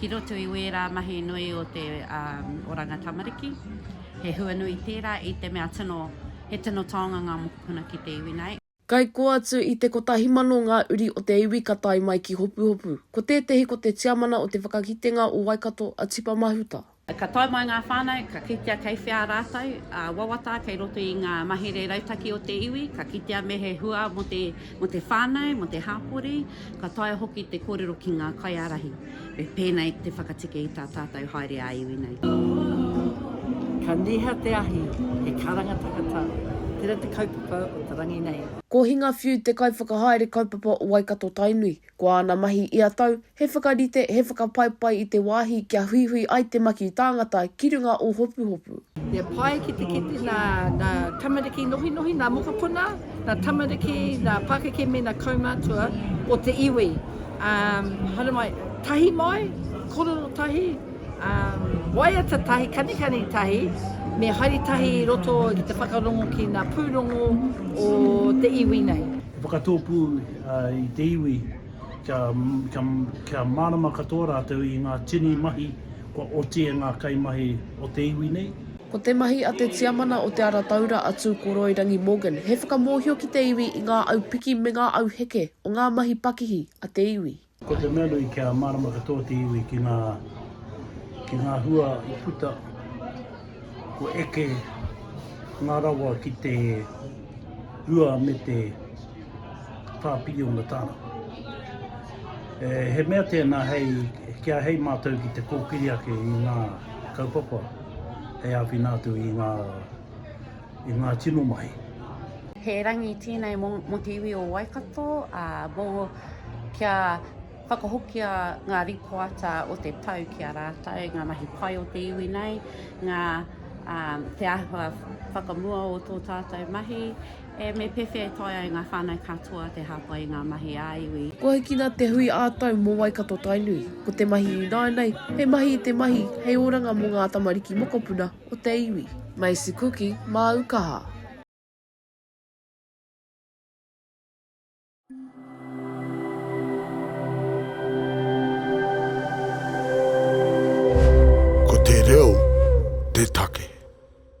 ki roto i wērā mahi nui o te oranga tamariki. He hua nui tērā i te mea tino, he tino taonga ngā mokopuna ki te iwi nei. Kai kō atu i te 1000 ngā uri o te iwi ka tae mai ki Hopuhopu. Ko tētehi ko te tiamana o te whakakitenga o Waikato a Tipa Mahuta. Ka tae mai ngā whānau, ka kitea kei whea rātou, ā, wawata kei roto i ngā mahere rautaki o te iwi, ka kitea me he hua mō te, mō te whānau, mō te hāpori, ka taea hoki te kōrero ki ngā kaiārahi, me pēnei te whakateke i tā tātou haere ā-iwi nei. Ka niha te ahi, he karanga takata, tērā te kaupapa o te rangi nei. Ko Hinga Whiu te kaiwhakahaere kaupapa o Waikato-Tainui. Ko āna mahi ia tau, he whakarite, he whakapaipai i te wāhi kia huihui ai te maki tāngata ki runga o Hopuhopu. He pai ki te kite nā ngā tamariki nohinohi, nā mokopuna, nā tamariki, nā pakeke mēnā kaumātua o te iwi. Um, haere mai, tahi mai, korero tahi, um, waiata tahi, kanikani tahi, me haere tahi i roto ki te whakarongo ki ngā pūrongo o te iwi nei. Whakatōpū i te iwi kia kia mārama katoa rātou i ngā tini mahi kua oti e ngā kaimahi o te iwi nei. Ko te mahi a te Tiamana o Te Ara Taura a Tūkoroirangi Morgan he whakamōhio ki te iwi i ngā au piki me ngā au heke o ngā mahi pakihi a te iwi. Ko te mea nui kia mārama katoa te iwi ki ngā, ki ngā hua i puta, kua eke ngā rawa ki te rua me te whā piriona tāra. E, he mea tēnā hei, ki a hei mātou ki te kōkiri ake i ngā kaupapa hei āwhina atu i ngā i ngā tino mahi. He rangi tēnei mō, mō te iwi o Waikato, ā, mō kia whakahokia ngā rīpoata o te tau ki a rātou, ngā mahi pai o te iwi nei, ngā ā, te āhua whakamua o tō tātou mahi, e me pēwhea e taea e ngā whānau katoa te hāpai i ngā mahi ā-iwi. Kua hikina te hui ā-tau mō Waikato-Tainui, ko te mahi ināianei he mahi i te mahi hei oranga mō ngā tamariki mokopuna, o te iwi. Macy Kuki, māu kaha.